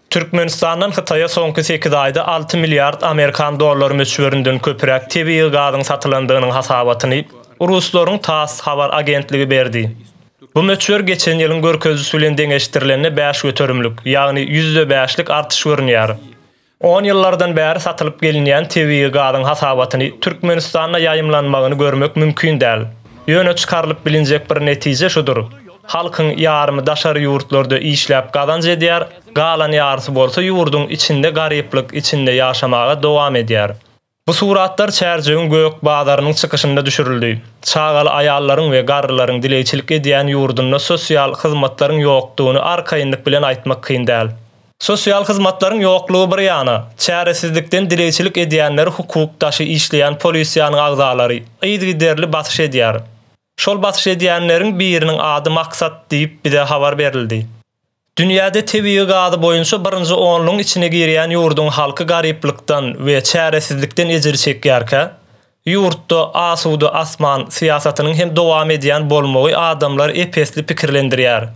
Türkmenistandan Hytaýa soňky sekiz aýda alty milliard amerikan dollary möçberinden köpräk tebigy gazyň satylandygynyň hasabatyny ruslaryň TASS habar agentligi berdi. Bu möçber geçen ýylyň görkezijisi bilen deňeşdirilende bäş göterimlik, ýagny ýüzde bäşlik artyş görünýär. On ýyllardan bäri satylyp gelinýän tebigy gazyň hasabatyny Türkmenistanda ýaýymlanmagyny görmek mümkin däl. Ýöne çykarylyp bilinjek bir netije şudur, halkyň ýarymy daşary ýurtlarda işläp gazanç edýär, galan ýarysy bolsa ýurduň içinde garyplyk içinde ýaşamaga dowam edýär. Bu suratlar Çärjewiň gök bazarynyň çykyşynda düşürildi. Çagaly aýallaryň we garrylaryň dileýçilik edýän ýurdunda sosial hyzmatlaryň ýokdugyny arkaýynlyk bilen aýtmak kyn däl. Sosial hyzmatlaryň ýoklugy bir ýana, çäresizlikden dileýçilik edýänleri hukuk daşy işleýän polisiýanyň agzalary yzgiderli basyş edýär. Şol basyş edýänleriň biriniň ady Maksat diýip bize habar berildi. Dünýäde tebigy gazy boýunça birinji onlugyň içine girýän ýurduň halky garyplykdan we çäresizlikden ejir çekýärkä, ýurtda asuda asman syýasatynyň hem dowam edýän bolmagy adamlary ep-esli pikirlendirýär.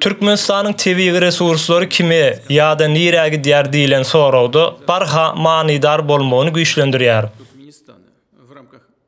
Türkmenistanyň tebigy resurslary kime ýa-da nirä gidýär diýlen soragda barha manydar bolmagyny güýçlendirýär.